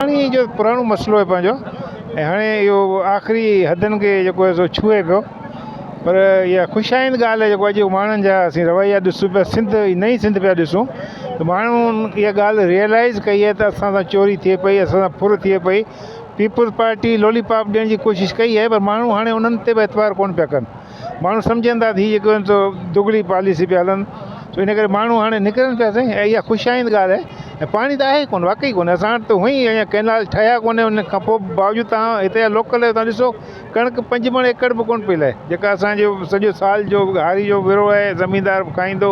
پاڻي جو پراڻو مسئلو آهي پنهنجو ۽ هاڻي اهو آخري حدن کي جيڪو آهي سو ڇهي پيو پر اها خوش آئند ڳالهه آهي جيڪو اڄ ماڻهن جا اسين رويا ڏسون پيا سنڌ ۽ نئي سنڌ پيا ڏسون ته ماڻهن اها ڳالهه ريئلائز ڪئي آهي ته اسان سان چوري ٿئي پئي اسان سان ڦر ٿئي پئي پيپلز پارٽي لولي پاپ ڏيڻ جي ڪوشش ڪئي آهي پر ماڻهو هاڻي انهن تي به اعتبار ڪونه پيا ڪن ماڻهو سمجهن ٿا ته هي جيڪو آهن سو دگلي پاليسي پيا هلن سو ان ڪري ماڻهو هاڻي نڪرن پيا سائين ۽ اها خوش آئند ڳالهه آهي ۽ پاڻي ته آهي ڪونه واقعي ڪونه اسان وٽ ته هونئن ئي اڃا ڪئنال ٺهيا ڪونه ان کان پوء به باوجود تهان هتي جا لوڪل آهيو تهان ڏسو ڪڻڪ پنج مڻ ايڪڙ به ڪونه پئي لهي جيڪا اسانجو سڄو سال جو هاري جو ورهو آهي زميندار به کائيندو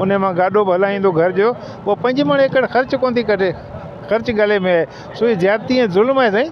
ان مان گاڏو به هلائيندو گهر جو اهو پنج مڻ ايڪڙ خرچ ڪونه ٿي ڪڍي خرچ گلي ۾ آهي سو هي زيادتي ۽ ظلم آهي سائين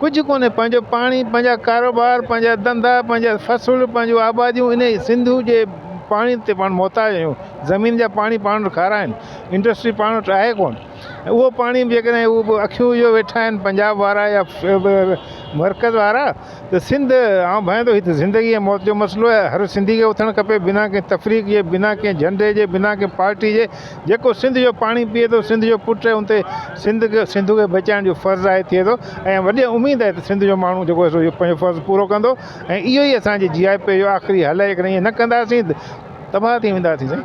ڪجهه ڪونهي، پنهنجو پاڻي، پنهنجا ڪاروبار، پنهنجا ڌنڌا، پنهنجا فصل، پنهنجون آباديون انهيء سنڌوء جي پاڻي تي پاڻ محتاج آهيون. زمين جا پاڻي پاڻ وٽ کارا آهن، انڊسٽري پاڻ وٽ آهي ڪونه ۽ اهو پاڻي جيڪڏهن اهو به اکيون اهو ويٺا آهن پنجاب وارا يا مرڪز وارا ته سنڌ آئون ڀانئيان ٿو هي ته زندگي ۽ موت جو مسئلو آهي، هر سنڌي کي اٿڻ کپي بنا ڪنهن تفريق جي، بنا ڪنهن جهنڊي جي، بنا ڪنهن پارٽي جي. جيڪو سنڌ جو پاڻي پيئي ٿو سنڌ جو پٽ ان تي سنڌ کي سنڌو کي بچائڻ جو فرض آهي ٿئي ٿو ۽ وڏي اميد آهي ته سنڌ جو ماڻهو جيڪو سو اهو پنهنجو فرض پورو ڪندو ۽ اهو ئي اسان جي جي آء پي جو آخري حل آهي جيڪڏهن اهو نه ڪنداسين ته تباهه ٿي وينداسين سائين.